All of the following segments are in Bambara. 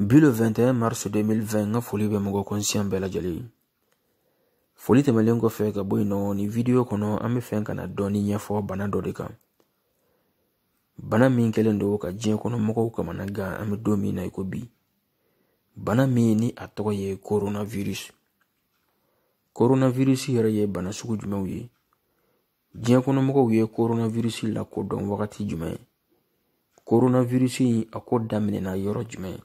Bi le 21 mars 2020 n ka foli bɛ mɔgɔ kɔnsiyan bɛɛ lajɛlen ye foli tɛmɛnlen kɔfɛ ka bɔ yen nɔ nin vidiyo kɔnɔ an bɛ fɛ ka na dɔɔni ɲɛfɔ bana dɔ de kan bana min kɛlen don ka diɲɛ kɔnɔ mɔgɔw kamana gan an bɛ don min na i ko bi bana min ni a tɔgɔ ye coronavirus coronavirus yɛrɛ ye bana sugu jumɛnw ye diɲɛ kɔnɔ mɔgɔw ye koronawirisi lakodɔn wagati jumɛn koronawirisi in a ko daminɛna yɔrɔ jumɛn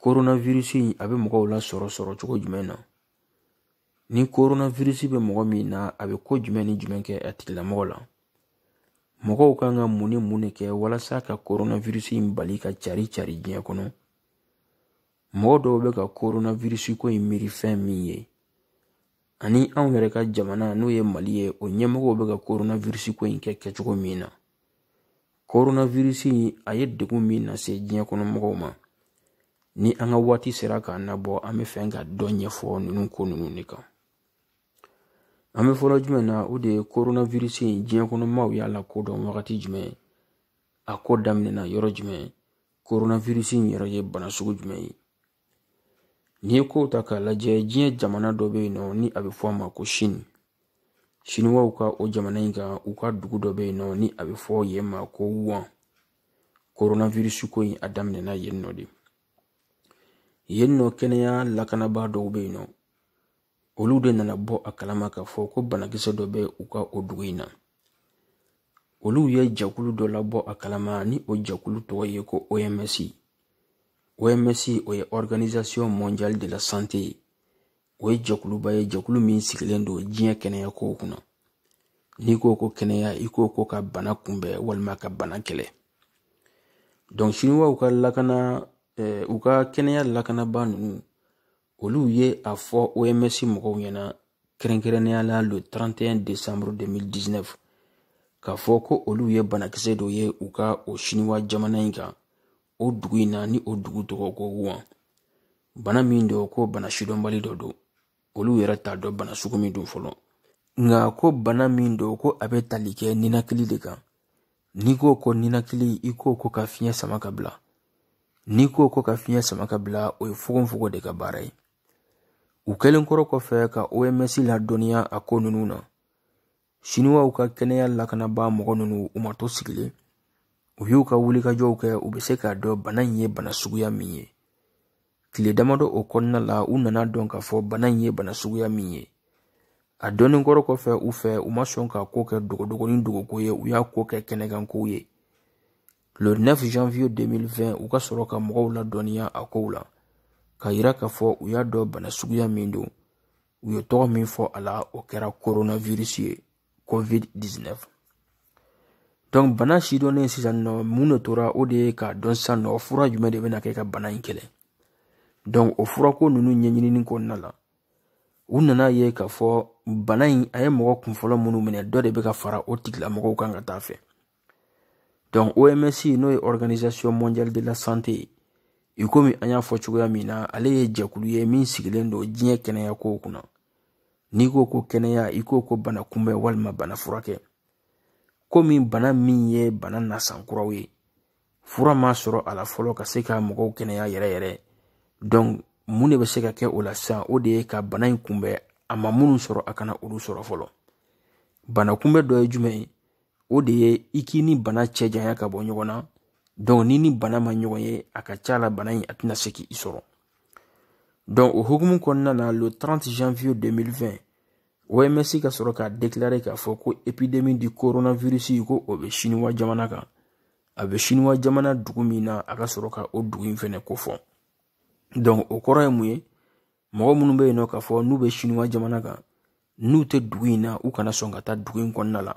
koronawirisi in a bɛ mɔgɔw lasɔrɔ sɔrɔ cogo jumɛn na ni koronawirisi bɛ mɔgɔ min na a bɛ ko jumɛn ni jumɛn kɛ a tigilamɔgɔ la mɔgɔw kan ka mun ni mun de kɛ walasa ka koronawirisi in bali ka cari cari diɲɛ kɔnɔ mɔgɔ dɔw bɛ ka koronawirisi ko in miiri fɛn min ye ani anw yɛrɛ ka jamana n'o ye mali ye o ɲɛmɔgɔw bɛ ka koronavirisi ko in kɛ kɛcogo min na koronavirisi in a ye degun min lase diɲɛ kɔnɔ mɔgɔw ma ni an ka waati sera k'an nabɔ an bɛ fɛ ka dɔ ɲɛfɔ ninnu ko ninnu de kan an bɛ fɔlɔ jumɛn na o de ye koronavirisi in diɲɛ kɔnɔ mɔgɔw y'a lakodɔn wagati jumɛn a ko daminɛna yɔrɔ jumɛn koronavirisi in yɛrɛ ye bana sugu jumɛn ye n'i ye kow ta k'a lajɛ diɲɛ jamana dɔ bɛ yen nɔ ni a bɛ fɔ a ma ko sini siniwaw ka o jamana in kan u ka dugu dɔ bɛ yen nɔ ni a bɛ fɔ yen ma ko wuhan koronavirisi ko in a daminɛna yen nɔ de yen nɔ kɛnɛya lakanabaa dɔw bɛ yen nɔ olu de nana bɔ a kalama k'a fɔ ko banakisɛ dɔ bɛ u ka o dugu in na olu ye jɛkulu dɔ labɔ a kalama ni o jɛkulu tɔgɔ ye ko oms oms o ye organisation mondiale de la santé ye o ye jɛkuluba ye jɛkulu min sigilen don diɲɛ kɛnɛya kow kunna n'i ko ko kɛnɛya i ko ko ka bana kunbɛn walima ka bana kɛlɛ donc siniwaw ka lakana eh, u ka kɛnɛya lakanaba ninnu olu ye a fɔ oms mɔgɔw ɲɛna kɛrɛnkɛrɛnnenya la le 31 décembre 2019 k'a fɔ ko olu ye banakisɛ dɔ ye u ka o siniwa jamana in kan o dugu in na ni o dugu tɔgɔ ko wuhan bana min don ko bana sidɔnbali dɔ don olu yɛrɛ t'a dɔn bana sugu min don fɔlɔ nka ko bana min don ko a bɛ tali kɛ ninakili de kan n'i ko ko ninakili i ko ko ka fiɲɛ sama ka bila n'i ko ko ka fiɲɛ sama ka bila o ye fogonfogon de ka baara ye u kɛlen kɔrɔ kɔfɛ ka oms ladɔnniya a ko ninnu na siniwaw ka kɛnɛya lakanabaa mɔgɔ ninnu u ma to sigilen u y'u ka wulikajɔw kɛ u bɛ se k'a dɔn bana in ye bana suguya min ye tile damadɔ o kɔnɔna la u nana dɔn k'a fɔ bana in ye bana suguya min ye a dɔnnen kɔrɔ kɔfɛ u fɛ u ma sɔn k'a ko kɛ dogodogonin dogoko ye u y'a ko kɛ kɛnɛkankow ye le 9 janvier 2020 u ka sɔrɔ ka mɔgɔw ladɔnniya a kow la k'a yira k'a fɔ u y'a dɔn bana suguya min don u ye tɔgɔ min fɔ a la o kɛra coronavirus ye covid-19 donc bana sidɔnnen sisan nɔ mun de tora o de ye k'a dɔn sisan nɔ fura jumɛn de bɛna kɛ ka bana in kɛlɛ donc o furako ninnu ɲɛɲinini kɔnɔna la u nana ye k'a fɔ bana in a ye mɔgɔ kunfɔlɔ minnu minɛ dɔ de bɛ ka fara o tigilamɔgɔw kan ka taa fɛ donc oms n'o ye organisation mondiale de la santé ye i komi an y'a fɔ cogoya min na ale ye jɛkulu ye min sigilen don diɲɛ kɛnɛya kow kunna n'i ko ko kɛnɛya i ko ko bana kunbɛn walima bana furakɛ komi bana min ye bana nasan kura ye fura ma sɔrɔ a la fɔlɔ ka se ka mɔgɔw kɛnɛya yɛrɛ yɛrɛ donc mun de bɛ se ka kɛ o la sisan o de ye ka bana in kunbɛn a ma minnu sɔrɔ a kana olu sɔrɔ fɔlɔ bana kunbɛn dɔ ye jumɛn ye o de ye i k'i ni bana cɛ janya ka bɔ ɲɔgɔn na donc n'i ni bana ma ɲɔgɔn ye a ka ca la bana in a tɛna se k'i sɔrɔ donc o hukumu kɔnɔna na le 30 janvier 2020 OMS ka sɔrɔ k'a déclaré k'a fɔ ko épidémie du coronavirus ko o bɛ siniwa jamana kan a bɛ siniwa jamana dugu min na a ka sɔrɔ ka o dugu in fɛnɛ kofɔ donc o kɔrɔ ye mun ye mɔgɔ minnu bɛ yen nɔ k'a fɔ n'u bɛ siniwa jamana kan n'u tɛ dugu in na u kana sɔn ka taa dugu in kɔnɔna la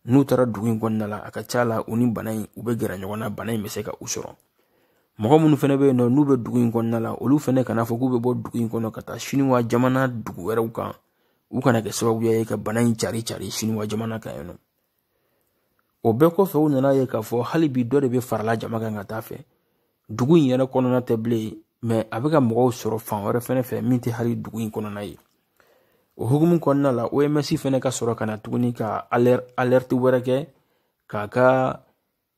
n'u taara dugu in kɔnɔna la a ka ca la u ni bana in u bɛ gɛrɛ ɲɔgɔn na bana in bɛ se ka u sɔrɔ mɔgɔ minnu fana bɛ yen nɔ n'u bɛ dugu in kɔnɔna la olu fana kana fɔ k'u bɛ bɔ dugu in kɔnɔ ka taa siniwa jamana dugu wɛrɛw kan u kana kɛ sababuya ye ka bana in cari cari siniwa jamana kan yen nɔ o bɛɛ kɔfɛ u nana ye k'a fɔ hali bi dɔ de bɛ farala jama kan ka taa fɛ dugu in yɛrɛ kɔnɔna tɛ bilen mais a bɛ ka mɔgɔw sɔrɔ fan wɛrɛ fɛnɛ fɛ min tɛ hali dugu in kɔnɔna ye o hukumu kɔnɔna la oms fɛnɛ ka sɔrɔ ka na tuguni ka alerte wɛrɛ kɛ k'a ka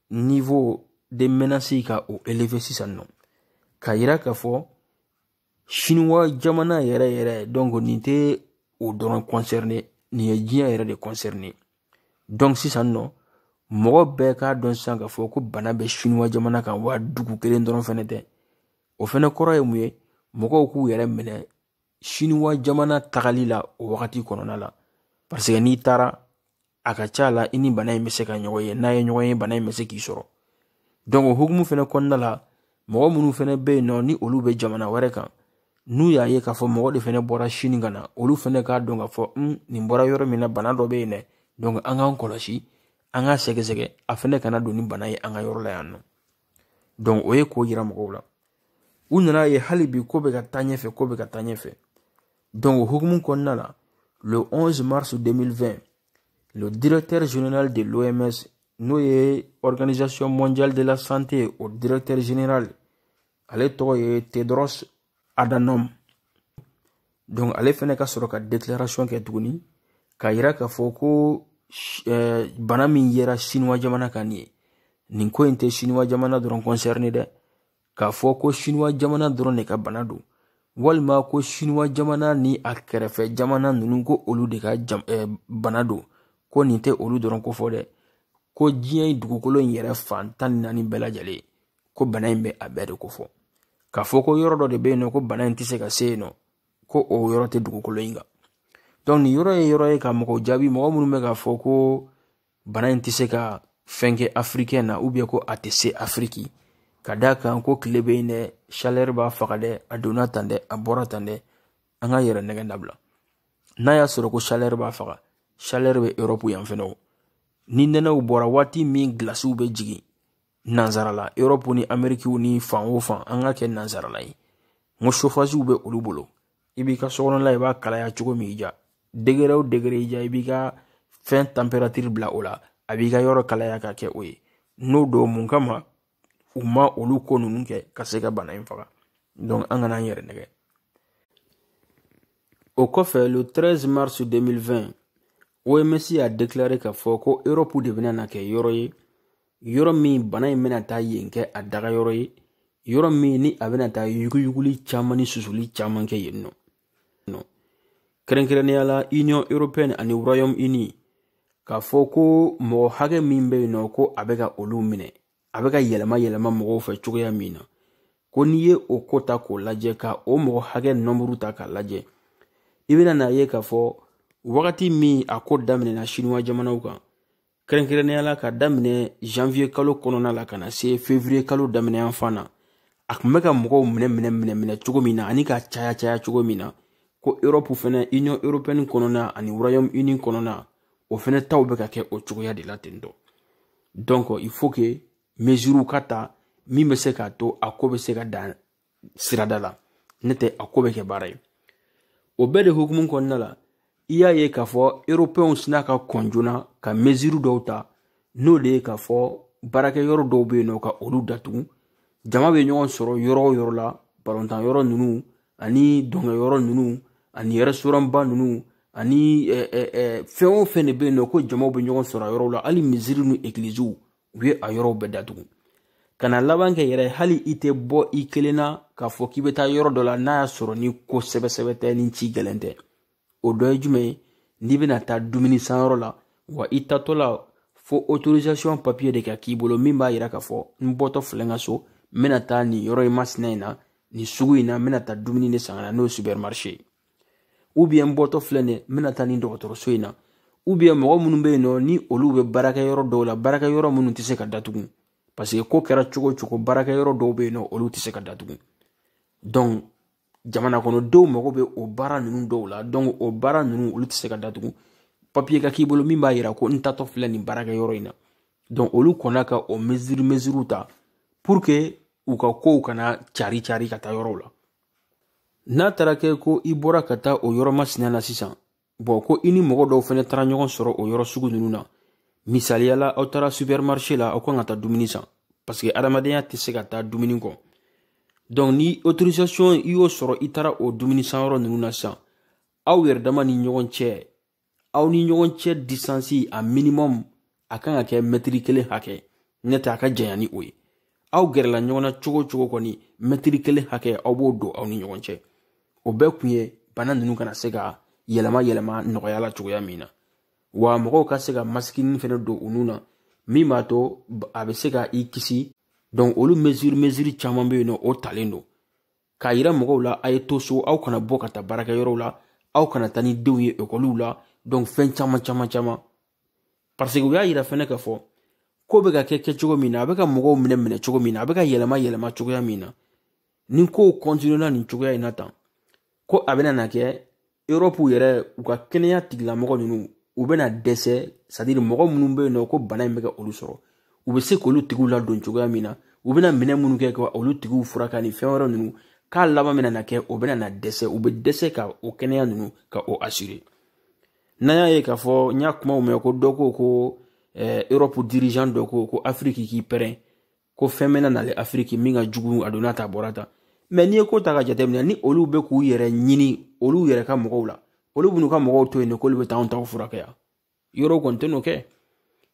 niveau de menace ka o élevé sisan nɔ k'a yira k'a fɔ siniwa jamana yɛrɛ yɛrɛ donc nin tɛ o dɔrɔn concerné nin ye diɲɛ yɛrɛ de concerné donc sisan nɔ mɔgɔ bɛɛ k'a dɔn sisan k'a fɔ ko bana bɛ siniwa jamana kan wa dugu kelen dɔrɔn fɛnɛ tɛ o fɛnɛ kɔrɔ ye mun ye mɔgɔw k'u yɛrɛ minɛ siniwa jamana tagali la o wagati kɔnɔna la parce que n'i taara a ka ca la i ni bana in bɛ se ka ɲɔgɔn ye n'a ye ɲɔgɔn ye bana in bɛ se k'i sɔrɔ donc o hukumu fɛnɛ kɔnɔna la mɔgɔ minnu fɛnɛ bɛ yen nɔ ni olu bɛ jamana wɛrɛ kan n'u y'a ye k'a fɔ mɔgɔ de fɛnɛ bɔra sini ka na olu fɛnɛ k'a dɔn k'a fɔ n nin bɔra yɔrɔ min na bana dɔ bɛ yen dɛ donc an k'an kɔlɔsi an k'a sɛgɛsɛgɛ a fɛnɛ kana don ni bana ye an ka yɔrɔ la yan nɔ donc o ye k'o yira mɔgɔw la u nana ye hali bi ko bɛ ka taa ɲɛfɛ ko bɛ ka taa ɲɛfɛ donc o hukumu kɔnɔna la le 11 mars 2020 le directeur général de l'OMS n'o ye organisation mondiale de la santé o directeur général ale tɔgɔ ye Tedros Adhanom donc ale fɛnɛ ka sɔrɔ ka declaration kɛ tuguni k'a yira k'a fɔ ko eh, bana min yera sinuwa jamana kan nin ye nin ko in tɛ sinuwa jamana dɔrɔn concerne dɛ k'a fɔ ko sinuwa jamana dɔrɔn de ka bana don walima ko sinuwa jamana ni a kɛrɛfɛ jamana ninnu ko olu de ka jam, eh, bana don ko nin tɛ olu dɔrɔn ko fɔ dɛ ko diɲɛ dugukolo in yɛrɛ fan tan ni naani bɛɛ lajɛlen ko bana in bɛ a bɛɛ de ko fɔ k'a fɔ ko yɔrɔ dɔ de bɛ yen nɔ ko bana in tɛ se ka se yen nɔ ko o yɔrɔ tɛ dugukolo in kan donc nin yɔrɔ ye yɔrɔ ye ka mɔgɔw jaabi mɔgɔ minnu bɛ k'a fɔ ko bana in tɛ se ka fɛn kɛ afirikɛn na ou bien ko a tɛ se afiriki ka d'a kan ko tile bɛ yen dɛ chaleur b'a faga dɛ a donna tan dɛ a bɔra tan dɛ an ka yɛrɛ nɛgɛn dabila n'a y'a sɔrɔ ko chaleur b'a faga chaleur bɛ Europe yan fɛnɛ o ni nɛnɛw bɔra waati min gilasiw bɛ jigin Nansarala Europe ni amerikiw ni fan o fan an k'a kɛ nansarala ye ni chauffagew bɛ olu bolo i b'i ka sokɔnɔla i b'a kalaya cogo min i diya degré o degré i diya i b'i ka fɛn température bila o la a b'i ka yɔrɔ kalaya ka kɛ o ye n'o don mun kama u ma olu ko ninnu kɛ ka se ka bana in faga an kana an yɛrɛ nɛgɛn o kɔfɛ le 13 mars 2020 OMS y'a déclaré k'a fɔ ko Europe de bɛna na kɛ yɔrɔ ye yɔrɔ min bana in bɛna taa yen kɛ a dagayɔrɔ ye yɔrɔ min ni a bɛna taa yuguyuguli caman ni susuli caman kɛ yen nɔ kɛrɛnkɛrɛnnenya la union européenne ani royaume uni k'a fɔ ko mɔgɔ hakɛ min bɛ yen nɔ ko a bɛ ka olu minɛ a bɛ ka yɛlɛma yɛlɛma mɔgɔw fɛ cogoya min na ko n'i ye o ko ta k'o lajɛ ka o mɔgɔ hakɛ nɔnburu ta k'a lajɛ i bɛna n'a ye k'a fɔ wagati min a ko daminɛna sinuwa jamanaw kan kɛrɛnkɛrɛnnenya la ka daminɛ janvier kalo kɔnɔna la ka na se février kalo daminɛ yan fan na a kun bɛ ka mɔgɔw minɛ minɛ minɛ minɛ cogo min na ani ka caya caya cogo min na ko europe fɛnɛ union européenne kɔnɔna ani royaume uni kɔnɔna o fɛnɛ taw bɛ ka kɛ o cogoya de la ten tɔ donc il faut que mesurew ka ta min bɛ se k'a to a ko bɛ se ka dan sirada la n'o tɛ a ko bɛ kɛ baara ye o bɛɛ de hukumu kɔnɔna la i y'a ye k'a fɔ eropɛnw sina ka kɔn joona ka mesure dɔw ta n'o de ye k'a fɔ baarakɛyɔrɔ dɔw bɛ yen nɔ ka olu datugu jama bɛ ɲɔgɔn sɔrɔ yɔrɔ o yɔrɔ la balontanyɔrɔ ninnu ani dɔnkɛyɔrɔ ninnu ani restaurantba ninnu ani fɛn o fɛn de bɛ yen nɔ ko jamaw bɛ ɲɔgɔn sɔrɔ yɔrɔw la hali misiri ni egiliziw u ye a yɔrɔw bɛɛ datugu ka na laban kɛ yɛrɛ hali i tɛ bɔ i kelen na k'a fɔ k'i bɛ taa yɔrɔ dɔ la n'a y'a sɔrɔ ni ko sɛbɛsɛbɛ tɛ ni ci gɛlɛn tɛ o dɔ ye jumɛn ye n'i bɛna taa dumuni sanyɔrɔ la wa i tatɔ la fo autorisation papier de ka k'i bolo min b'a yira k'a fɔ n bɔtɔ filɛ n ka so n bɛna taa nin yɔrɔ in masina in na nin sugu in na n bɛna taa dumuni de san ka na n'o ye supermarché ye ou bien n bɔtɔ filɛ nin ye n bɛna taa nin dɔgɔtɔrɔso in na ou bien mɔgɔ minnu bɛ yen nɔ ni olu bɛ baarakɛyɔrɔ dɔw la baarakɛyɔrɔ minnu tɛ se ka datugu paseke ko kɛra cogo o cogo baarakɛyɔrɔ dɔw bɛ yen nɔ olu tɛ se ka datugu jamanakɔnɔdenw mago bɛ o baara ninnu dɔw la o baara ninnu olu tɛ se ka datugu papiye ka k'i bolo min b'a yira ko n tatɔ filɛ nin baarakɛyɔrɔ in na olu kɔnna ka o meziri meziriw ta u ka kow kana cari cari ka taa yɔrɔw la n'a taara kɛ ko i bɔra ka taa o yɔrɔ masina na sisan bɔn ko i ni mɔgɔ dɔw fɛnɛ taara ɲɔgɔn sɔrɔ o yɔrɔ sugu nunu na misaliya la aw taara supermarché la aw kan ka taa dumuni san parce que adamadenya tɛ se ka taa dumuni kɔ donc ni autorisation i y'o sɔrɔ i taara o dumuni sanyɔrɔ nunu na sisan aw yɛrɛ dama ni ɲɔgɔn cɛ aw ni ɲɔgɔn cɛ distance a minimum a kan ka kɛ mɛtiri kelen hakɛ n'o tɛ a ka janya ni o ye aw gɛrɛla ɲɔgɔn na cogo o cogo kɔni mɛtiri kelen hakɛ aw b'o don aw ni ɲɔgɔn cɛ o bɛɛ kun ye bana ninnu kana se ka yɛlɛma yɛlɛma nɔgɔya la cogoya min na wa mɔgɔw ka se ka masikinin fɛnɛ don u nun na min b'a to a bɛ se ka i kisi donc olu mesure mesure caman bɛ yen nɔ o talen don k'a yira mɔgɔw la a ye to so aw kana bɔ ka taa baarakɛyɔrɔw la aw kana taa ni denw ye ekɔliw la donc fɛn caman caman caman parce que u y'a yira fɛnɛ k'a fɔ ko bɛ ka kɛ kɛ cogo min na a bɛ ka mɔgɔw minɛ minɛ cogo min na a bɛ ka yɛlɛma yɛlɛma cogoya min na ni kow kɔntiniyela nin cogoya in na tan ko a bɛna na kɛ eropu yɛrɛ u ka kɛnɛya tigilamɔgɔ ninnu u bɛna dɛsɛ c'est-à-dire mɔgɔ minnu bɛ yen nɔ ko bana in bɛ ka olu sɔrɔ u bɛ se k'olu tigiw ladon cogoya min na u bɛna minɛn minnu kɛ ka olu tigiw furakɛ ni fɛn wɛrɛ ninnu k'a laban bɛna na kɛ o bɛna na dɛsɛ u bɛ dɛsɛ ka o kɛnɛya ninnu ka o asire n'an y'a ye k'a fɔ n y'a kumaw mɛn ko dɔ ko ko eropu dirijan dɔ ko ko afiriki k'i pɛrɛn ko fɛn bɛna na le afiriki min ka jugu a donna tan bɔra tan mɛ n'i ye ko ta k'a jateminɛ ni olu bɛ k'u yɛrɛ ɲini olu yɛrɛ ka mɔgɔw la olu b'u ka mɔgɔw to yen de k'olu bɛ taa anw taw furakɛ yan yɔrɔw kɔni tɛn'o kɛ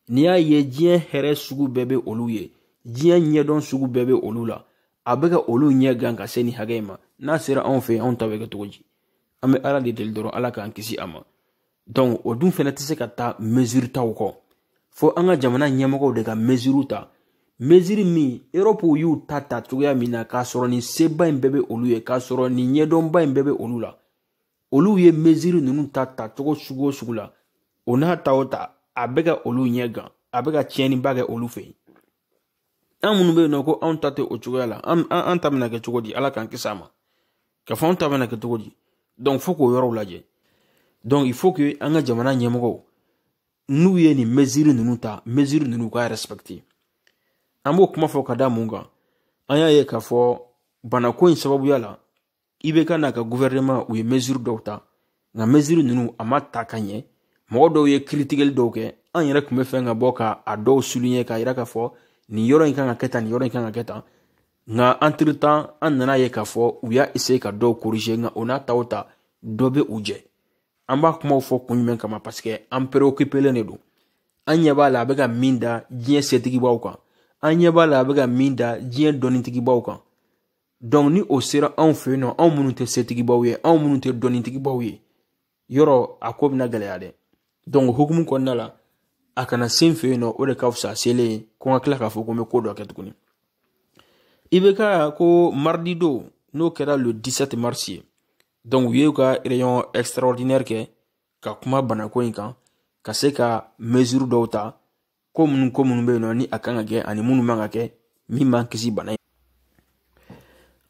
n'i y'a ye diɲɛ hɛrɛ sugu bɛɛ bɛ olu ye diɲɛ ɲɛdɔn sugu bɛɛ bɛ olu la a bɛ ka olu ɲɛ gan ka se nin hakɛ in ma n'a sera anw fɛ yen anw ta bɛ kɛ cogo di an bɛ ala de deli dɔrɔn ala k'an kisi a ma donc o dun fɛnɛ tɛ se ka taa mesure taw kɔ fo an ka jamana ɲɛmɔgɔw de ka mesure ta mesure min europe y'u ta ta cogoya min na k'a sɔrɔ nin seba in bɛɛ bɛ olu ye k'a sɔrɔ nin ɲɛdɔnba in bɛɛ bɛ olu la olu ye mesure ninnu ta ta cogo sugu o sugu la o n'a ta o ta a bɛ ka olu ɲɛ gan a bɛ ka tiɲɛniba kɛ olu fɛ yen an minnu bɛ yen nɔ ko anw ta tɛ o cogoya la an an ta bɛna kɛ cogo di ala k'an kisi a ma k'a fɔ anw ta bɛna kɛ cogo di donc fo k'o yɔrɔw lajɛ donc il faut que an ka jamana ɲɛmɔgɔw n'u ye nin mesure ninnu ta mesure ninnu ka respecter an b'o kuma fɔ ka da mun kan an y'a ye k'a fɔ banako in sababuya la ibk n'a ka guvɛrɛnɛma u ye meziri dɔw ta nka meziri ninnu a ma ta ka ɲɛ mɔgɔ dɔw ye kiritikeli dɔw kɛ an yɛrɛ tun bɛ fɛn ka bɔ ka a dɔw suliɲɛ k'a yira k'a fɔ nin yɔrɔ in kan ka kɛ tan nin yɔrɔ in kan ka kɛ tan nka entre-temps an nana a ye k'a fɔ u y'a eseye ka dɔw korije nka o n'a ta o ta dɔ bɛ u jɛ an b'a kumaw fɔ kun jumɛn kama paseke an pereokipelen de don an ɲɛ b'a la a bɛ ka min da diɲɛ setigibaw kan an ɲɛ b'a la a bɛ ka min da diɲɛ dɔnnitigibaw kan dɔnku ni o sera anw fɛ yen nɔ anw minnu tɛ setigibaw ye anw minnu tɛ dɔnnitigibaw ye yɔrɔ a ko bɛna gɛlɛya dɛ dɔnku o hukumu kɔnɔna la a kana se an fɛ yen nɔ o de ka fisa a selen ye ko n ka tila k'a fɔ ko n bɛ ko dɔ kɛ tuguni ibk ko maridi don n'o kɛra le 17 mars ye dɔnku u ye u ka réunion extraordinaire kɛ ka kuma banako in kan ka se ka mesure dɔw ta ko minnu ko minnu bɛ yen nɔ ni a kan ka kɛ ani minnu man ka kɛ min b'an kisi bana in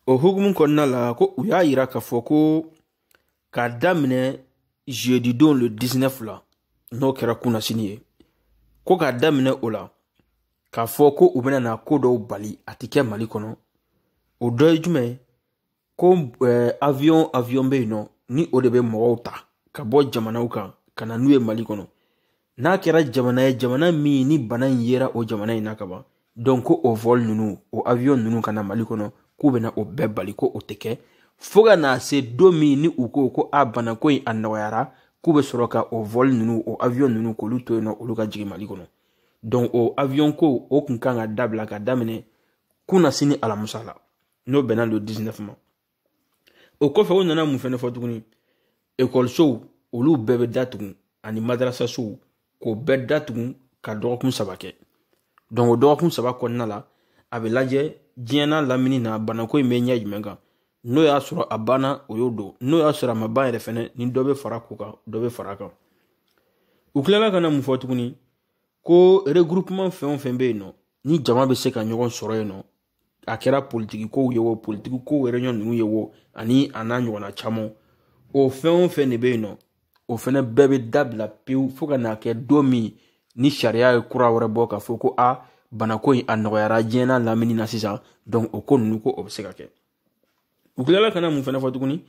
o hukumu kɔnɔna la ko u y'a yira k'a fɔ ko k'a daminɛ jeudidon le 19 la n'o kɛra kunasini ye ko k'a daminɛ o la k'a fɔ ko u bɛna na ko dɔw bali a tɛ kɛ mali kɔnɔ o dɔ ye jumɛn ye ko eh, avion avion bɛ yen nɔ ni o de bɛ mɔgɔw ta ka bɔ jamanaw kan ka na n'u ye mali kɔnɔ n'a kɛra jamana ye jamana min ni bana in yera o jamana in na ka ban donc ko o vol ninnu o avion ninnu ka na mali kɔnɔ k'u bɛna o bɛɛ bali ko o tɛ kɛ fo ka na se don min ni u ko ko a banako in a nɔgɔyara k'u bɛ sɔrɔ ka o vol ninnu o avion ninnu k'olu to yen nɔ olu ka jigin mali kɔnɔ donc o avion ko o tun kan ka dabila ka daminɛ kunasini alamusa la n'o bɛnna don disinɛfu ma o kɔfɛ u nana mun fɛnɛ fɔ tuguni ekɔlisow olu bɛɛ bɛ datugu ani madarasasow k'o bɛɛ datugu ka dɔgɔkun saba kɛ dɔnku o dɔgɔkun saba kɔnɔna la a bɛ lajɛ diɲɛ n'a lamini na banako in bɛ ɲɛ jumɛn kan n'o y'a sɔrɔ a banna o y'o don n'o y'a sɔrɔ a ma ban yɛrɛ fɛnɛ ni dɔ bɛ fara o kan dɔ bɛ fara a kan u tilala ka na mun fɔ tuguni ko regroupement fɛn o fɛn bɛ yen nɔ ni jama bɛ se ka ɲɔgɔn sɔrɔ yen nɔ a kɛra politiki kow ye o politiki kow ye réunion ninnu ye o ani a n'a ɲɔgɔnna caman o fɛn o fɛn de bɛ yen nɔ o fɛnɛ bɛɛ bɛ dabila pewu fo ka n'a kɛ don min ni sariya ye kura wɛrɛ bɔ k'a fɔ ko a banako in a nɔgɔyara diɲɛ n'a lamini na sisan donc o ko ninnu ko o bɛ se ka kɛ u tilala ka na min fɛnɛ fɔ tuguni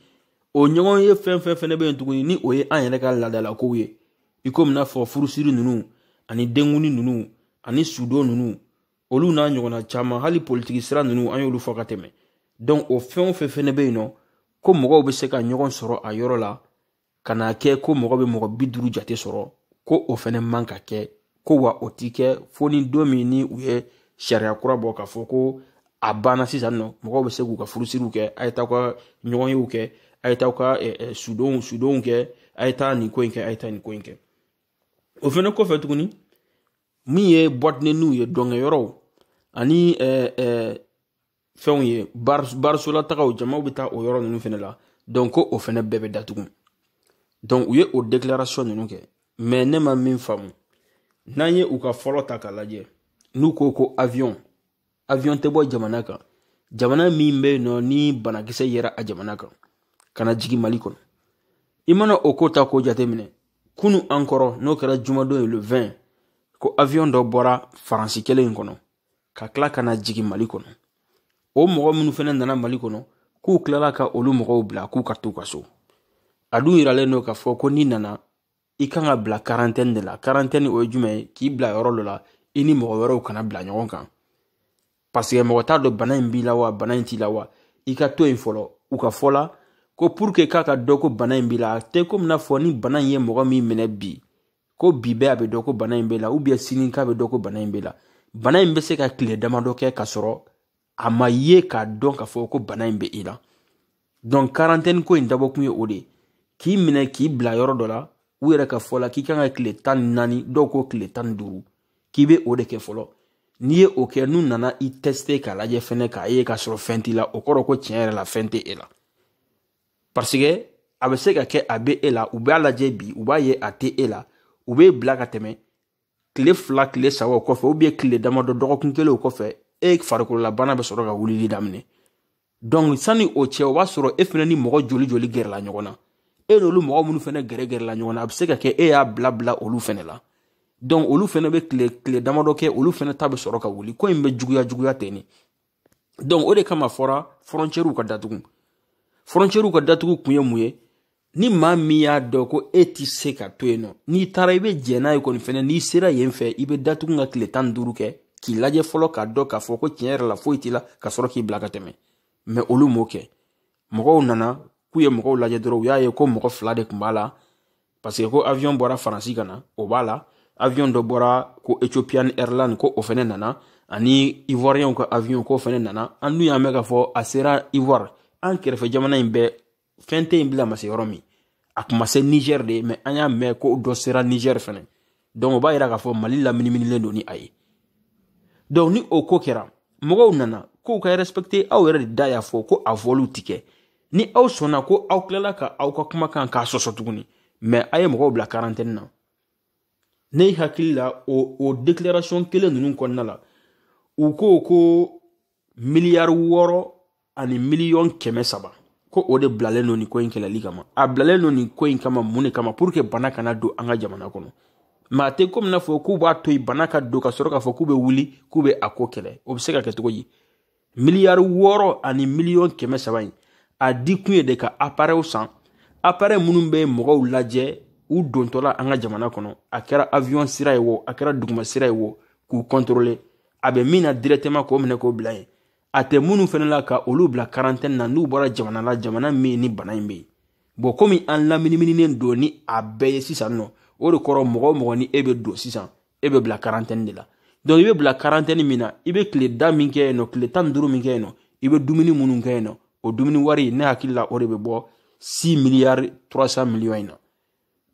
o ɲɔgɔnye fɛn fɛn fɛnɛ bɛ yen tuguni ni o ye an yɛrɛ ka laadalakow ye i komi n'a fɔ furusiri ninnu ani denkundi ninnu ani sudon ninnu olu n'a ɲɔgɔnna caman hali politiki sira ninnu an y'olu fɔ ka tɛmɛ donc o fɛn o fɛn fɛnɛ bɛ yen nɔ ko mɔgɔw bɛ se ka ɲɔgɔn sɔrɔ a yɔrɔ la ka n'a kɛ ko mɔgɔ bɛ mɔgɔ bi duuru jate sɔrɔ ko o fɛnɛ man ka kɛ ko wa o ti kɛ fo ni don min ni u ye sariya kura bɔ k'a fɔ ko a banna sisan nɔ mɔgɔw bɛ se k'u ka furusiriw kɛ a ye taa ka ɲɔgɔnyew kɛ a ye taa ka sudonw sudonw kɛ a ye taa nin ko in kɛ a ye taa nin ko in kɛ o fɛnɛ kɔfɛ tuguni min ye boîte de nuitw ye dɔnkɛyɔrɔw ani eh, eh, fɛnw ye barisolataw jamaw bɛ taa o yɔrɔ ninnu fɛnɛ la donc ko o fɛnɛ bɛɛ bɛ datugu donc u ye o declaration ninnu kɛ mais ne ma min faamu n'an ye u ka fɔlɔ ta k'a lajɛ n'u ko ko avion avion tɛ bɔ jamana kan jamana min bɛ yen nɔ ni banakisɛ yera a jamana kan ka na jigin mali kɔnɔ i mana o ko ta k'o jateminɛ kunu an kɔrɔ n'o kɛra jumadon ye le 20 ko avion dɔ bɔra faransi kelen in kɔnɔ ka tila ka na jigin mali kɔnɔ o mɔgɔ minnu fɛnɛ nana mali kɔnɔ k'u tilala ka olu mɔgɔw bila k'u ka t'u ka so a dun yiralen don k'a fɔ ko n'i nana i kan ka bila karantɛni de la karantɛni o ye jumɛn ye k'i bila yɔrɔ dɔ la i ni mɔgɔ wɛrɛw kana bila ɲɔgɔn kan paseke mɔgɔ t'a dɔn bana in b'i la wa bana in t'i la wa i ka to yen fɔlɔ u ka fɔ la ko puruke k'a ka dɔn ko bana in b'i la a tɛ komi n'a fɔ ni bana in ye mɔgɔ min minɛ bi ko bi bɛɛ a bɛ dɔn ko bana in b'i la ubiyɛn sini k'a bɛ dɔn ko bana in b'i la bana in bɛ se ka tile damadɔ kɛ ka sɔrɔ a ma ye k'a dɔn k'a fɔ ko bana in bɛ i la donc karantɛni ko in dabɔkun ye o de ye k'i minɛ k'i bila yɔrɔ dɔ la u yɛrɛ ka fɔ la k'i kan ka tile tan ni naani dɔw ko tile tan ni duuru k'i bɛ o de kɛ fɔlɔ n'i ye o kɛ n'u nana i tɛsite k'a lajɛ fɛnɛ k'a ye k'a sɔrɔ fɛn t'i la o kɔrɔ ko tiɲɛ yɛrɛ la fɛn tɛ e la parce que a bɛ se ka kɛ a bɛ e la u b'a lajɛ bi u b'a ye a tɛ e la u b'e bila ka tɛmɛ tile fila tile saba o kɔfɛ ubiyɛn tile damadɔ dɔgɔkun kelen o kɔfɛ e farikololabana bɛ sɔrɔ ka wulili daminɛ dɔnku sani o cɛ o b'a sɔrɔ e fɛnɛ ni mɔgɔ joli joli gɛrɛla ɲɔgɔn na e n'olu mɔgɔ minnu fɛnɛ gɛrɛ gɛrɛla ɲɔgɔn na a bɛ se ka kɛ e y'a bila bila olu fɛnɛ la dɔnku olu fɛnɛ bɛ tile tile damadɔ kɛ olu fɛnɛ ta bɛ sɔrɔ ka wuli ko in bɛ juguya juguya ten ne donc o de kama fɔra fɔrɔncɛriw ka datugu fɔrɔncɛriw ka datugu kun ye mun ye ni maa min y'a dɔn ko e ti se ka to yen nɔ n'i taara i bɛ jɛn n'a ye kɔni fɛnɛ n'i sera yen fɛ i bɛ datugu ka tile tan ni duuru kɛ k'i lajɛ fɔlɔ k'a dɔn k'a fɔ ko tiɲɛ yɛrɛ la foyi t'i la ka sɔrɔ k'i bila ka tɛmɛ mɛ olu m'o kɛ mɔgɔw nana k'u ye mɔgɔw lajɛ dɔrɔn u y'a ye ko mɔgɔ fila de tun b'a la parce que ko avion bɔra faransi ka na o b'a la avion dɔ bɔra ko ethiopian airline ko o fɛnɛ nana ani ivoirienw ka avion ko o fɛnɛ nana an dun y'a mɛn k'a fɔ a sera ivoire an kɛrɛfɛ jamana in bɛɛ fɛn tɛ yen bila ma se yɔrɔ min a kun ma se niger de ye mɛ an y'a mɛn ko dɔ sera niger fɛnɛ donc o b'a yira k'a fɔ mali laminiminilen don ni a ye donc ni o ko kɛra mɔgɔw nana k'u k'a respecte aw yɛrɛ de da y'a fɔ ko a vɔliw ti kɛ ni aw sɔnna ko aw tilala ka aw ka kuma kan k'a sɔsɔ tuguni mɛ a ye mɔgɔw bila karantɛni na ne hakili la o o declaration kelen ninnu kɔnɔna la u ko ko miliyari wɔɔrɔ ani miliyɔn kɛmɛ saba ko o de bilalen don nin ko in kɛlɛli kama a bilalen don nin ko in kama mun de kama pour que bana kana don an ka jamana kɔnɔ mɛ a tɛ komi n'a fɔ k'u b'a to yen bana ka don ka sɔrɔ k'a fɔ k'u bɛ wuli k'u bɛ a ko kɛlɛ o bɛ se ka kɛ cogo di miliyari wɔɔrɔ ani miliyɔn kɛmɛ saba in a di kun ye de ka aparɛw san aparɛ minnu bɛ mɔgɔw lajɛ u dontɔla an ka jamana kɔnɔ a kɛra avion sira ye wo a kɛra duguma sira ye wo k'u kɔntɔrɔle a bɛ min na directement k'o minɛ k'o bila yen a tɛ minnu fɛnɛ la ka olu bila karantɛni na n'u bɔra jamana la jamana min ni bana in bɛ yen bɔn komi an laminimininen don ni a bɛɛ ye sisan nɔ o de kɔrɔ mɔgɔ o mɔgɔ ni e bɛ don sisan e bɛ bila karantɛni de la donc i bɛ bila karantɛni min na i bɛ tile da min kɛ yen nɔ tile tan ni duuru min kɛ yen nɔ i bɛ dumuni minnu kɛ yen nɔ o dumuni wari ne hakili la o de bɛ bɔ six miliyari trois cent miliyɔn in na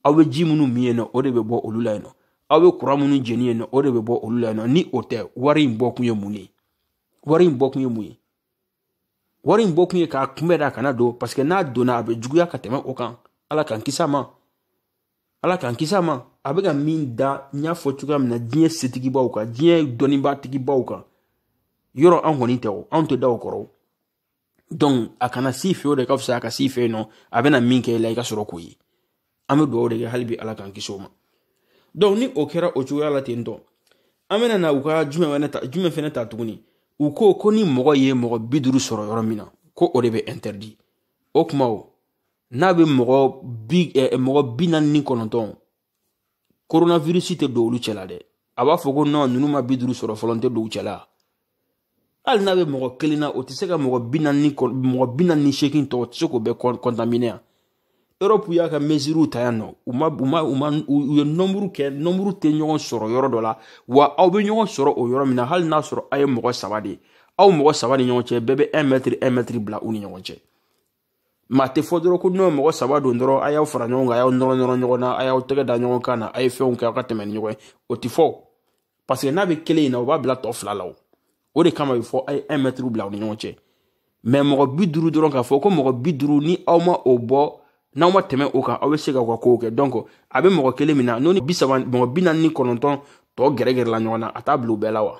aw bɛ ji minnu min yen nɔ o de bɛ bɔ olu la yen nɔ aw bɛ kuran minnu jeni yen nɔ o de bɛ bɔ olu la yen nɔ ni o tɛ wari in bɔkun ye mun ye wari in bɔkun ye mun ye wari in bɔkun ye k'a kunbɛn de a kana don parce que n'a donna a bɛ juguya ka tɛmɛ o kan ala k'an kisi a ma ala k'an kisi a ma a bɛ ka min da n y'a fɔ cogoya min na diɲɛ setigibaw kan diɲɛ dɔnniba tigibaw kan yɔrɔ an kɔni tɛ o anw ta tɛ da o kɔrɔ donc a kana se i fɛ o de ka fisa a ka se i fɛ yen nɔ a bɛna min kɛ i la i ka sɔrɔ k'o ye an bɛ dugawu de kɛ hali bi ala k'an kisi o ma donc ni o kɛra o cogoya la ten tɔ an bɛna na u ka jumɛn fɛnɛ ta jumɛn fɛnɛ ta tuguni u ko ko ni mɔgɔ ye mɔgɔ bi duuru sɔrɔ yɔrɔ min na ko o de bɛ interdit o kuma o n'a bɛ mɔgɔ bi eh, mɔgɔ bi naani ni kɔnɔntɔn koronavirisi tɛ don olu cɛla dɛ a b'a fɔ ko nɔn ninnu ma bi duuru sɔrɔ fɔlɔ n tɛ don u cɛla hali n'a bɛ mɔgɔ kelen na o tɛ se ka mɔgɔ bi naani mɔgɔ bi naani ni seegin tɔ tɛ se k'o bɛɛ kɔntamine yan europe y'a ka mesures ta yan nɔ u ma u ma u ma u ye nɔnburu kɛ nɔnburu tɛ ɲɔgɔn sɔrɔ yɔrɔ dɔ la wa aw bɛ ɲɔgɔn sɔrɔ o yɔrɔ min na hali n'a sɔrɔ aw ye mɔgɔ saba de ye aw mɔgɔ saba ni ɲɔgɔn cɛ bɛɛ bɛ un mɛtiri un mɛtiri bila u ni ɲɔgɔn cɛ mais a tɛ fɔ dɔrɔn ko nɔn mɔgɔ saba don dɔrɔn a y'aw fara ɲɔgɔn kan a y'aw nɔrɔ nɔrɔ ɲɔgɔn na a y'aw tɛgɛ da ɲɔgɔn kan na a ye fɛnw kɛ aw ka tɛmɛ ni ɲɔgɔn ye o tɛ fɔ parce que n'a bɛ kelen in na o b'a bila tɔ fila la o o de kama a bɛ fɔ a ye un mɛtiri bila aw ni ɲɔgɔn cɛ mɛ mɔgɔ bi duuru dɔrɔn k'a fɔ ko mɔgɔ bi duuru ni aw ma o bɔ n'aw ma tɛmɛ o kan aw bɛ se k'aw ka kow kɛ donc a bɛ mɔgɔ kelen min na n'o ni bi saba mɔgɔ bi naani ni kɔnɔntɔn tɔ gɛrɛgɛrɛla ɲɔgɔn na a t'a bila u bɛɛ la wa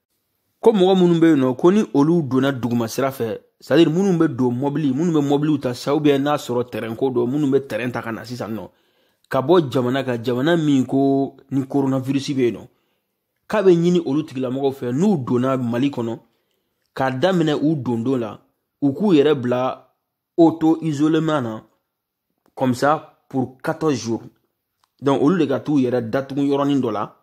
ko mɔgɔ minnu bɛ yen nɔ ko ni olu donna duguma sira fɛ c'est-à-dire minnu bɛ don mɔbili minnu bɛ mɔbiliw ta sa ou bien n'a sɔrɔ tɛrɛn ko don minnu bɛ tɛrɛn ta ka na sisan nɔ ka bɔ jamana ka jamana min ko ni koronavirisi bɛ yen nɔ k'a bɛ ɲini olu tigilamɔgɔw fɛ n'u donna mali kɔnɔ k'a daminɛ u dondon la u k'u yɛrɛ bila auto-isolement na comme ça pour 14 jours donc olu de ka t'u yɛrɛ datugu yɔrɔnin dɔ la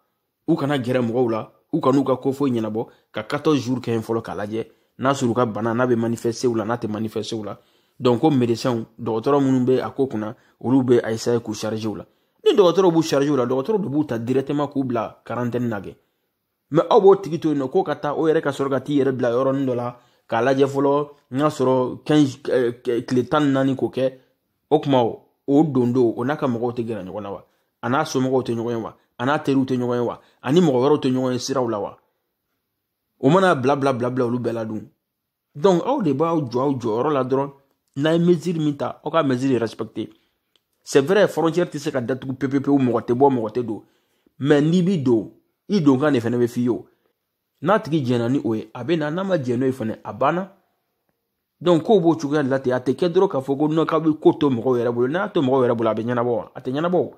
u kana gɛrɛ mɔgɔw la u kan'u ka ko foyi ɲɛnabɔ ka 14 jours kɛ yen fɔlɔ k'a lajɛ n'a sɔrɔ u ka bana n'a bɛ manifeste u la n'a tɛ manifeste u la donc ko médecins dɔgɔtɔrɔ minnu bɛ a ko kunna olu bɛ a essayer k'u charger u la ni dɔgɔtɔrɔw b'u charger u la dɔgɔtɔrɔw de b'u ta directement k'u bila quarantaine na kɛ mɛ aw b'o tigi to yen nɔ k'o ka taa o yɛrɛ ka sɔrɔ ka t'i yɛrɛ bila yɔrɔnin dɔ la k'a lajɛ fɔlɔ n y'a sɔrɔ tile tan ni naani k'o kɛ o tuma o don don o n'a ka mɔgɔw tɛ gɛrɛ ɲɔgɔn na wa a n'a somɔgɔw tɛ ɲɔgɔn ye wa a n'a teriw tɛ ɲɔgɔn ye wa ani mɔgɔ wɛrɛw tɛ ɲɔgɔn ye siraw la wa o man'a bila bila bila bila olu bɛɛ la dun donc aw de b'aw jɔ aw jɔyɔrɔ la dɔrɔn n'a ye mesure min ta aw ka mesure respecter c'est vrai frontière tɛ se ka datugu pepepewu mɔgɔ tɛ bɔ mɔgɔ tɛ don mais n'i bi don i donkan de fana bɛ f'i ye o n'a tigi jɛnna ni o ye a bɛ na n'a ma jɛn n'o ye fana a banna donc k'o b'o cogoya de la ten a tɛ kɛ dɔrɔn k'a fɔ ko non k'a bɛ ko to mɔgɔw yɛrɛ bolo n'a to mɔgɔw yɛrɛ bolo a bɛ ɲɛnabɔ wa a tɛ ɲɛnabɔ o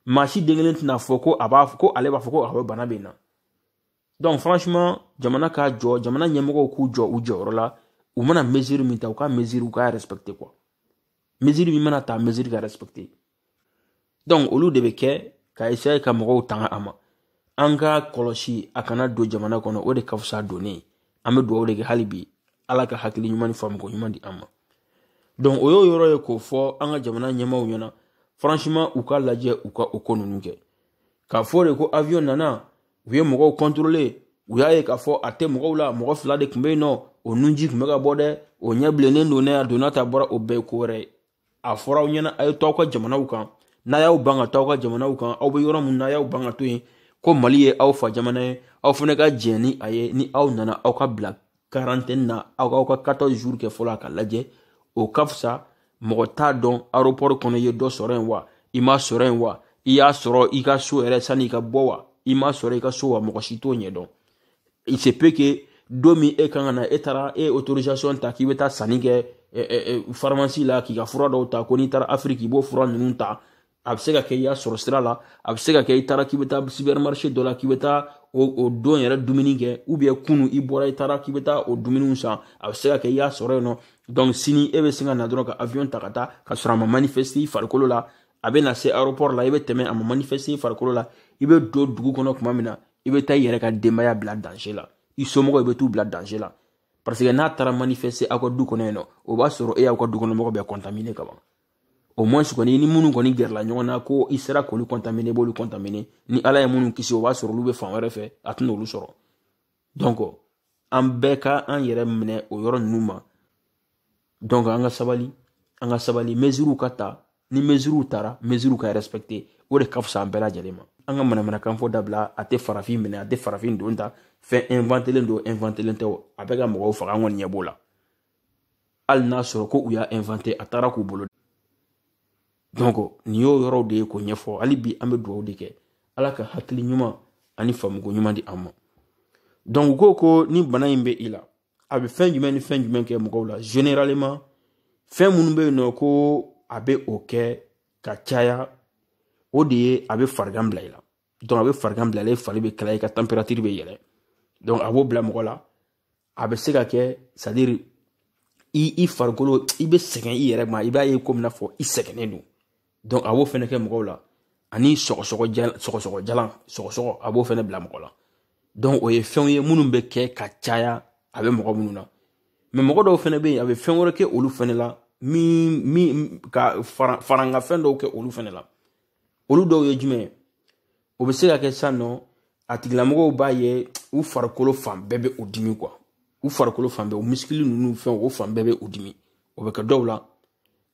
maa si den kelen tɛn'a fɔ ko a b'a ko ale b'a fɔ ko a bɛ bana bɛ n na donc franchement jamana k'a jɔ jamana ɲɛmɔgɔw k'u jɔ u jɔyɔrɔ la u mana mesure min ta u ka mesure u k'a respecte quoi mesure min mana ta mesure ka respecte donc olu de bɛ kɛ ka essaye ka mɔgɔw tanga a ma an k'a kɔlɔsi a kana don jamana kɔnɔ o de ka fisa donnen an bɛ dugawu de kɛ hali bi ala ka hakili ɲuman ni faamuko ɲuman di an ma donc o y'o yɔrɔ ye k'o fɔ an ka jamana ɲɛmaaw ɲɛna franchement u k'a lajɛ u ka o ko ninnu kɛ k'a fɔ de ko avion nana u ye mɔgɔw kɔntorole u y'a ye k'a fɔ a tɛ mɔgɔw la mɔgɔ fila de tun bɛ yen nɔ o nunji tun bɛ ka bɔ dɛ o ɲɛ bilennen don ne a donna ta bɔra o bɛɛ ye ko wɛrɛ ye a fɔra aw ɲɛna a ye to aw ka jamanaw kan n'a y'aw ban ka to aw ka jamanaw kan aw bɛ yɔrɔ min na a y'aw ban ka to yen ko mali ye aw fa jamana ye aw fana ka jɛn ni a ye ni aw nana aw ka bila karantɛni na aw k'aw ka quatorze jours kɛ fɔlɔ a k'a lajɛ o ka fisa mɔgɔ t'a dɔn aéroport kɔnɔ i ye dɔ sɔrɔ yen wa i m'a sɔrɔ yen wa i y'a sɔrɔ i ka so yɛrɛ sanni i ka bɔ wa i m'a sɔrɔ i ka so wa mɔgɔ si t'o ɲɛdɔn il se peut que don min e kan ka na e taara e autorisation ta k'i bɛ taa sanni kɛ faramasi la k'i ka fura dɔw ta ko n'i taara afiriki i b'o fura ninnu ta a bɛ se ka kɛ i y'a sɔrɔ sira la a bɛ se ka kɛ i taara k'i bɛ taa sipɛrimarise dɔ la k'i bɛ taa o o don yɛrɛ dumuni kɛ ubiyɛn kunu i bɔra i taara k'i bɛ taa o dumuniw san a bɛ se ka kɛ i y'a sɔrɔ yen nɔ dɔnku sini e bɛ se ka na dɔrɔn ka awiyɔn ta ka taa ka sɔrɔ a ma manifɛsite i farikolo la a bɛ na se aropɔri la i bɛ tɛmɛ a ma manifɛsite i farikolo la i bɛ don dugu kɔnɔ tuma min na i bɛ taa i yɛrɛ ka denbaya bila danze la i somɔgɔw i bɛ t'u bila danze la parce que n'a taara manifɛsite aw ka du kɔnɔ yen nɔ o b'a sɔrɔ e y'aw ka du kɔnɔ mɔgɔ bɛɛ kɔntamine ka ban au moins kɔni ni minnu kɔni gɛrɛla ɲɔgɔn na ko i sera k'olu contamine b'olu contamine ni ala ye minnu kisi o b'a sɔrɔ olu bɛ fan wɛrɛ fɛ a tɛna olu sɔrɔ donc an bɛɛ ka an yɛrɛ minɛ o yɔrɔ ninnu ma donc an ka sabali an ka sabali mesiriw ka ta ni mesiriw tara mesiriw ka respecte o de ka fisa an bɛɛ lajɛlen ma an ka manamanakan fɔ dabila a tɛ farafin minɛ a tɛ farafin don ta fɛn inventelen don inventelen tɛ a bɛ ka mɔgɔw faga an kɔni ɲɛ b'o la hali n'a sɔrɔ ko u y'a inventer a taara k'u bolo donc nin y'o yɔrɔw de ye k'o ɲɛfɔ hali bi an bɛ dugawu de kɛ ala ka hakili ɲuman ani faamuko ɲuman di an ma donc u ko ko ni bana in bɛ i la a bɛ fɛn jumɛn ni fɛn jumɛn kɛ mɔgɔw la généralement fɛn minnu bɛ yen nɔ ko a bɛ o kɛ ka caya o de ye a bɛ farigan bila i la a bɛ farigan bila i la i fari bɛ kalaya i ka tanperatiri bɛ yɛlɛ a b'o bila mɔgɔ la a bɛ se ka kɛ sadiri i i farikolo i bɛ sɛgɛn i yɛrɛ ma i b'a ye komi n'a fɔ i sɛgɛnnen don a b'o fɛnɛ kɛ mɔgɔw la ani sɔgɔsɔgɔ jalan sɔgɔsɔgɔ jalan sɔgɔsɔgɔ a b'o fɛnɛ bila mɔgɔ la o ye fɛnw ye minnu bɛ kɛ ka caya a bɛ mɔgɔ minnu na mɛ mɔgɔ dɔw fɛnɛ bɛ yen a bɛ fɛn wɛrɛ kɛ olu fɛnɛ la min min ka fara farankan fɛn dɔw kɛ olu fɛnɛ la olu dɔw ye jumɛn ye o bɛ se ka kɛ sisan nɔ a tigilamɔgɔw b'a ye u farikolo fan bɛɛ bɛ u dimi kuwa u farikolo fan bɛɛ u misikili ninnu fɛnw o fan bɛɛ bɛ u dimi o bɛ kɛ dɔw la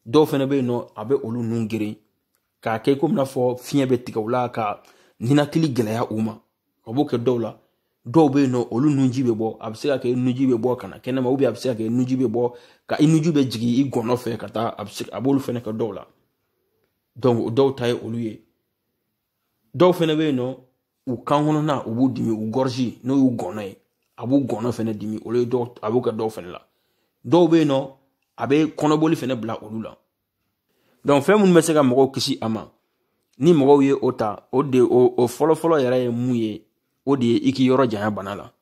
dɔw fana bɛ yen nɔ a bɛ olu nun geren k'a kɛ komi n'a fɔ fiɲɛ bɛ tigɛ u la ka ninakili gɛlɛya u ma a b'o kɛ dɔw la dɔw bɛ yen nɔ olu nunji bɛ bɔ a bɛ se ka kɛ nunji bɛ bɔ ka na kɛnɛma a bɛ se ka kɛ nunji bɛ bɔ ka i nunji bɛ jigin i gɔnɔ fɛ ka taa a bɛ se a b'olu fana kɛ dɔw la donc o dɔw ta ye olu ye dɔw fɛnɛ bɛ yen nɔ u kan kɔnɔna u b'u dimi u gorge n'o y'u gɔnɔ ye a b'u gɔnɔ fɛnɛ dimi olu ye dɔw a b'u kɛ dɔw fɛnɛ la dɔw bɛ yen nɔ a bɛ kɔnɔboli fɛnɛ bila olu la donc fɛn minnu bɛ se ka mɔgɔw kisi a ma ni mɔgɔw ye o ta o de o o fɔlɔfɔlɔ yɛrɛ ye mun ye o de ye i k'i yɔrɔ janya bana la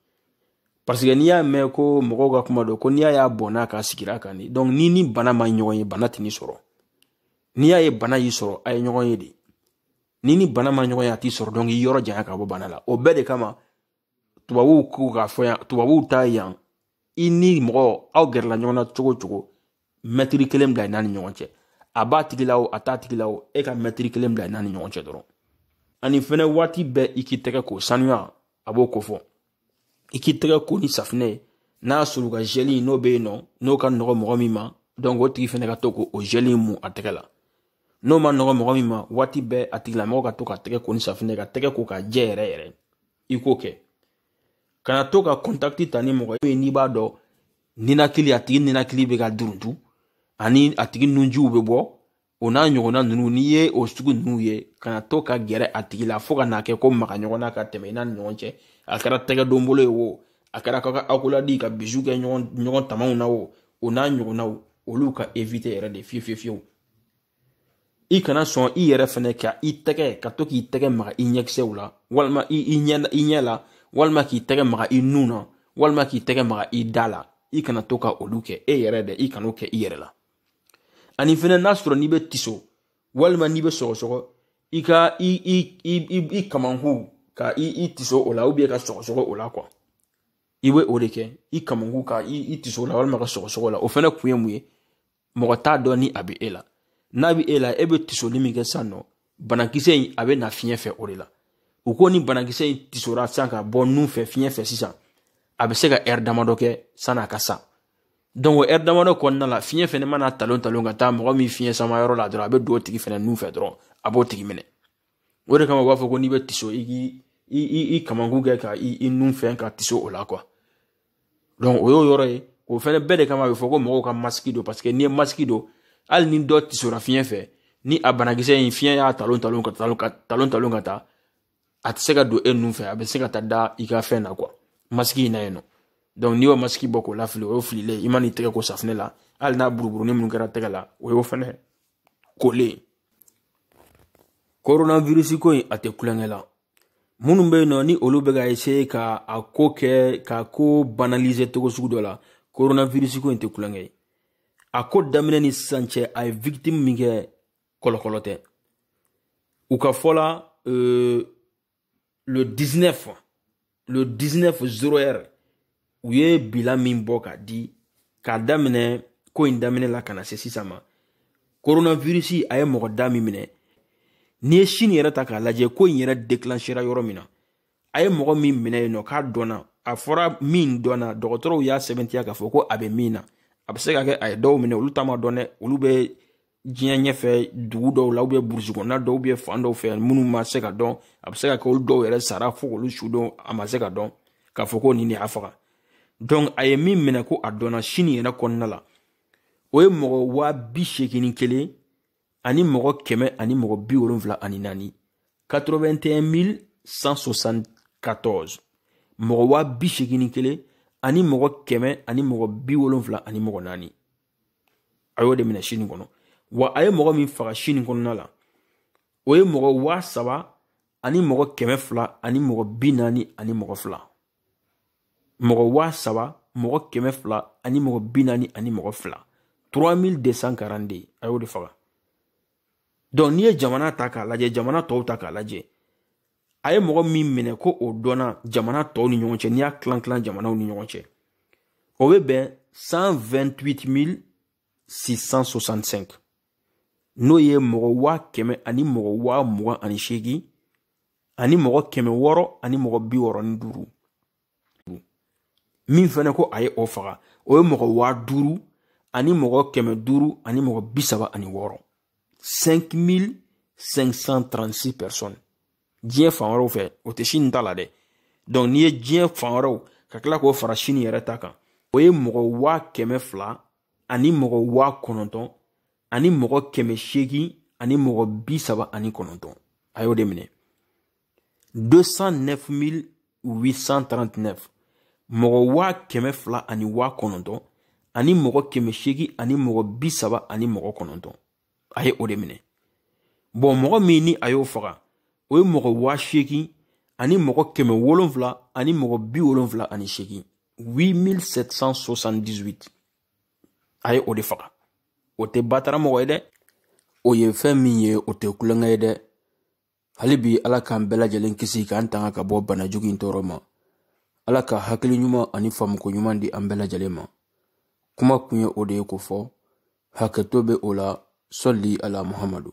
parce que n'i y'a mɛn ko mɔgɔw ka kuma don ko n'i y'a y'a bɔnna k'a sigira kan ni donc n'i ni bana ma ɲɔgɔn ye bana tɛ n'i sɔrɔ n'i y'a ye bana y'i sɔrɔ aw ye ɲɔgɔn ye de n'i ni bana ma ɲɔgɔn ye a t'i sɔrɔ donc i k'i yɔrɔ janya ka bɔ bana la o bɛɛ de kama tubabuw k'u k'a fɔ yan tubabuw ta yan i ni mɔgɔ aw gɛrɛla ɲɔgɔn na cogo o cogo mɛtiri kelen bila i n'a ni ɲɔgɔn cɛ a b'a tigi la o a t'a tigi la o e ka mɛtiri kelen bila i n'a ni ɲɔgɔn cɛ dɔrɔn ani fɛnɛ waati bɛɛ i k'i tɛgɛ k'o sanuya a b'o ko fɔ i k'i tɛgɛ ko ni safinɛ ye n'a sɔrɔ ka zɛli n'o bɛ yen nɔ n'o ka nɔgɔ mɔgɔ min ma donc o tigi fɛnɛ ka to k'o zɛli in mun a tɛgɛ la n'o ma nɔgɔ mɔgɔ min ma waati bɛɛ a tigilamɔgɔ ka to k'a tɛgɛ ko ni safinɛ k'a tɛgɛ ko k'a jɛ yɛrɛ yɛrɛ i k'o kɛ kana to ka contact ta ni mɔgɔ ye n'i b'a dɔn ninakili a tigi ninakili bɛ ka duruntu ani a tigi nunjiw bɛ bɔ o n'a ɲɔgɔnna ninnu n'i ye o sugu ninnu ye kana to ka gɛrɛ a tigi la fo ka n'a kɛ ko maga ɲɔgɔn na ka tɛmɛ i n'a ni ɲɔgɔn cɛ a kɛra tɛgɛ don bolo ye wo a kɛra ka accolade ka bisou kɛ ɲɔgɔn ɲɔgɔn tamaw na o o n'a ɲɔgɔnnaw olu ka éviter yɛrɛ de fewu fewu fewu i kana sɔn i yɛrɛ fɛnɛ ka i tɛgɛ ka to k'i tɛgɛ maga i ɲɛkisɛw la walima i i ɲɛ i ɲɛ la walima k'i tɛgɛ maga i nun na walima k'i tɛgɛ maga i da la i kana to ka olu kɛ e yɛrɛ dɛ i kan'o kɛ i yɛrɛ la ani fɛnɛ n'a sɔrɔ n'i bɛ tiso walima n'i bɛ sɔgɔsɔgɔ i ka i i i i i kamankun ka i i tiso o la ou bien ka sɔgɔsɔgɔ o la quoi i bɛ o de kɛ i kamankun ka i i tiso o la walima ka sɔgɔsɔgɔ o la o fɛnɛ kun ye mun ye mɔgɔ t'a dɔn ni a bɛ e la n'a bɛ e la e bɛ tisoli min kɛ sisan nɔ banakisɛ in a bɛ na fiɲɛ fɛ o de la u ko ni banakisɛ in tisora sisan ka bɔ nun fɛ fiɲɛ fɛ sisan a bɛ se ka ɛri damadɔ kɛ san'a ka sa donc o ɛri damadɔ kɔnɔna la fiɲɛ fɛnɛ man'a talon talon ka taa mɔgɔ min fiɲɛ sama yɔrɔ la dɔrɔn a bɛ don o tigi fɛnɛ nun fɛ dɔrɔn a b'o tigi minɛ o de kama u b'a fɔ ko n'i bɛ tiso i k'i i i i kamankun kɛ ka i i nun fɛn ka tiso o la quoi donc o y'o yɔrɔ ye o fɛnɛ bɛɛ de kama a bɛ fɔ ko mɔgɔw ka masiki don parce que n'i ye masiki don hali ni dɔ tisora fiɲɛ fɛ ni a banakisɛ in fiɲɛ y'a talon talon k'a talon k'a talon talon ka taa a tɛ se ka don e nun fɛ a bɛ se ka taa da i ka fɛn na quoi masiki in na yen nɔ donc n'i y'o masiki bɔ k'o lafili o ye fililen i man'i tɛgɛ ko safinɛ la hali n'a buruburuni minnu kɛra tɛgɛ la o y'o fɛnɛ kolen coronavirus ko in a tɛ tulonkɛ la minnu bɛ yen nɔ ni olu bɛ ka essayer ka a ko kɛ k'a ko banaliser cogo sugu dɔ la coronavirus ko in tɛ tulonkɛ ye a ko daminɛ ni sisan cɛ a ye victime min kɛ kɔlɔkɔlɔ tɛ u ka fɔ la euh, le 19 le 19 zéro heure u ye bilan min bɔ ka di k'a daminɛ ko in daminɛ la ka na se sisan ma koronavirisi a ye mɔgɔ da min minɛ n'i ye sini yɛrɛ ta k'a lajɛ ko in yɛrɛ deklanchera yɔrɔ min na a ye mɔgɔ min minɛ yen nɔ k'a dɔnna a fɔra min dɔnna dɔgɔtɔrɔw y'a sɛbɛntiya k'a fɔ ko a bɛ min na a bɛ se ka kɛ a ye dɔw minɛ olu ta ma dɔn dɛ olu bɛ diɲɛ ɲɛfɛ dugu dɔw la ou bien burusi kɔnɔna dɔw ou bien fan dɔw fɛ minnu ma se ka dɔn a bɛ se ka kɛ olu dɔw yɛrɛ sara fo k'olu su don a ma se ka dɔn k'a fɔ ko nin de y'a faga donc a ye min minɛ ko a dɔnna sini yɛrɛ kɔnɔna la o ye mɔgɔ waa bi seegin ni kelen ani mɔgɔ kɛmɛ ani mɔgɔ bi wolonfila ani naani 81 174 mɔgɔ waa bi seegin ni kelen ani mɔgɔ kɛmɛ ani mɔgɔ bi wolonfila ani mɔgɔ naani a y'o de minɛ sini kɔnɔ wa a ye mɔgɔ min faga sini kɔnɔna la o ye mɔgɔ waa saba ani mɔgɔ kɛmɛ fila ani mɔgɔ bi naani ani mɔgɔ fila mɔgɔ waa saba mɔgɔ kɛmɛ fila ani mɔgɔ bi naani ani mɔgɔ fila 3242 a y'o de faga donc n'i ye jamana ta k'a lajɛ jamana tɔw ta k'a lajɛ a ye mɔgɔ min minɛ ko o dɔnna jamana tɔw ni ɲɔgɔn cɛ n'i y'a tilan tilan jamanaw ni ɲɔgɔn cɛ o bɛ bɛn 128665 n'o ye mɔgɔ waa kɛmɛ ani mɔgɔ waa mugan ani seegin ani mɔgɔ kɛmɛ wɔɔrɔ ani mɔgɔ bi wɔɔrɔ ni duuru min fɛnɛ ko a ye o faga o ye mɔgɔ waa duuru ani mɔgɔ kɛmɛ duuru ani mɔgɔ bi saba ani wɔɔrɔ 5536 personnes diɲɛ fan wɛrɛw fɛ o tɛ sini ta la dɛ donc n'i ye diɲɛ fan wɛrɛw ka tila k'o fara sini yɛrɛ ta kan o ye mɔgɔ waa kɛmɛ fila ani mɔgɔ waa kɔnɔntɔn ani mɔgɔ kɛmɛ seegin ani mɔgɔ bi saba ani kɔnɔntɔn a y'o de minɛ 209 839 mɔgɔ waa kɛmɛ fila ani waa kɔnɔntɔn ani mɔgɔ kɛmɛ seegin ani mɔgɔ bi saba ani mɔgɔ kɔnɔntɔn a ye o de minɛ bon mɔgɔ min ni a y'o faga o ye mɔgɔ waa seegin ani mɔgɔ kɛmɛ wolonfila ani mɔgɔ bi wolonfila ani seegin 8778 a ye o de faga o tɛ batara mɔgɔ ye dɛ o ye fɛn min ye o tɛ tulonkɛ ye dɛ hali bi ala k'an bɛɛ lajɛlen kisi k'an tanga ka bɔ bana jugu in tɔɔrɔ ma ala ka hakili ɲuman ani faamuko ɲuman di an bɛɛ lajɛlen ma kuma kun ye o de ye ko fɔ hakɛto bɛ o la sɔli ala muhamadu